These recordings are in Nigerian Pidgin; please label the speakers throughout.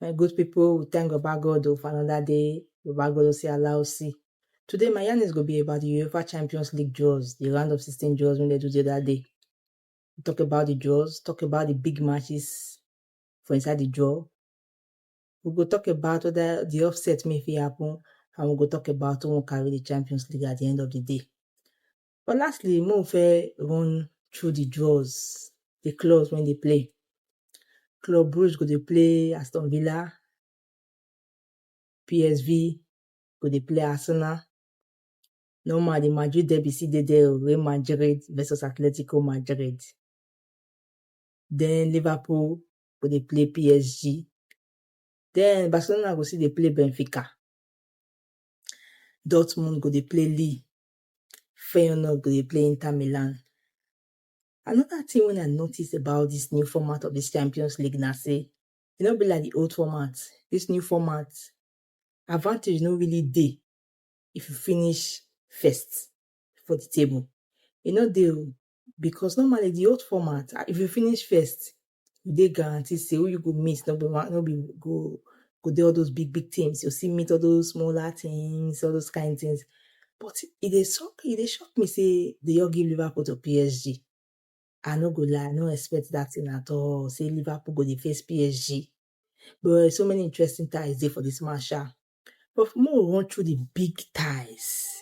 Speaker 1: My good people, we thank Baba God oh, for another day. Baba God oh, say allow see. Today, my yarn is going to be about the UEFA Champions League draws, the round of 16 draws when they do the other day. We talk about the draws, talk about the big matches for inside the draw. we go talk about whether the upset may fit happen, and we go talk about who will carry the Champions League at the end of the day. But lastly, mo fẹ́ run through the draws, the clubs when they play. Club Brugge go dey play Aston Villa, PSV go dey play Arsenal. Normal, the Madrid derby still dey there, Real Madrid versus Atletico Madrid. Then Liverpool go dey play PSG. Den Barcelona go still dey play Benfica. Dortmund go dey play Lille. Feyenoord go dey play Inter Milan. Another thing wey I notice about this new format of this Champions League na say e no be like the old format. This new format, advantage no really dey if you finish first for the table. E no dey o. because normally di old format if you finish first you dey guaranteed say who you go meet no be no be go go dey all those big big things you see meet all those smaller things all those kind things but e dey shock e dey shock me say dey just give Liverpool to PSG I no go lie I no expect that thing at all say Liverpool go dey face PSG but so many interesting ties dey for this match sha but make we run through the big ties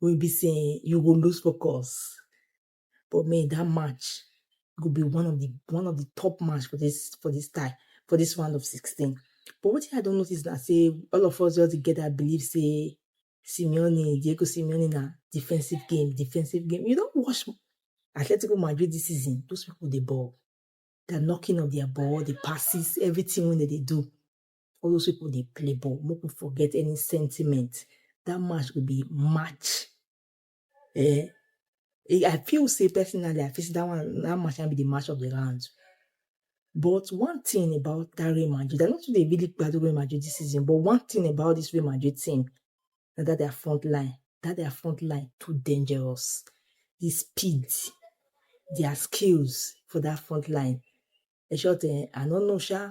Speaker 1: wey be say you go lose focus. But me that match go be one of the one of the top match for this for this time for this round of 16. But what I don't notice that say all of us just together believe say Simeone, Diego Simeone na defensive game, defensive game. You don't watch Atletico Madrid this season, those people they ball. The knocking of their ball, the passes, everything when they, they do. all those people dey play ball make we forget any sentiment that match go be match eh i feel say personally i feel say that one that match na be the match of the round but one thing about that Real Madrid, I don't think they really bad Real Madrid this season, but one thing about this Real Madrid team is that their front line, that their front line too dangerous. The speed, their skills for that front line. In short, eh, I don't know, Sha,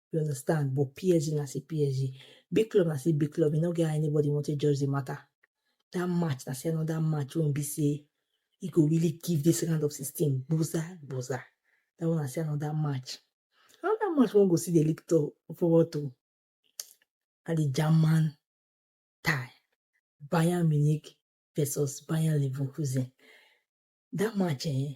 Speaker 1: you understand but PSG na still PSG big club na still big club e no get how anybody wan take judge the matter that match na still another match wey be say e go really give this round of sixteen gboza gboza that one na still another match another match wey we go still dey look to forward to na the German tie Bayern Munich versus Bayern Leverkusen that match eh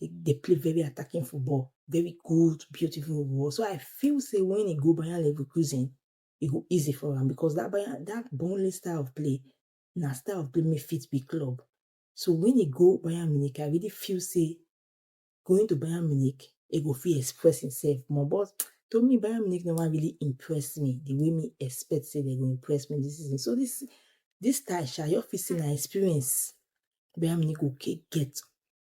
Speaker 1: They, they play very attacking football, very good, beautiful football. So I feel say when he go Bayern Leverkusen, it go easy for him because that Bayern, that Burnley style of play, na style of play may fit be club. So when he go Bayern Munich, I really feel say going to Bayern Munich, it go feel express himself more. But to me, Bayern Munich never really impressed me the way me expect say they go impress me this season. So this this time, shall you feel say na experience Bayern Munich go get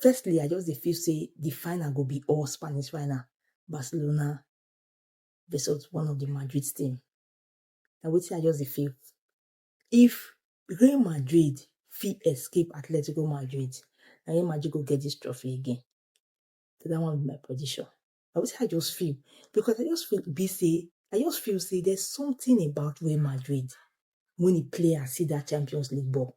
Speaker 1: Firstly, I just dey feel say the final go be all Spanish final, Barcelona versus one of the Madrid team. Na wetin I just dey feel. If Real Madrid fit escape Atletico Madrid, na Real Madrid go get this trophy again. So that one be my prediction. Na wetin I just feel because I just feel be say I just feel say there's something about Real Madrid when the players see that Champions League ball.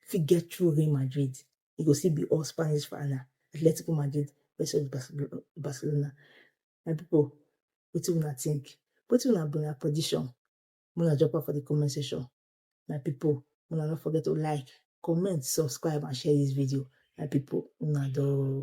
Speaker 1: fit get through Real Madrid, e go still be all Spanish final, Atletico Madrid versus Barcelona. My people, wetin una think? Wetin una be una prediction? Make una drop am for the comment section. My people, una no forget to like, comment, subscribe and share this video. My people, una do.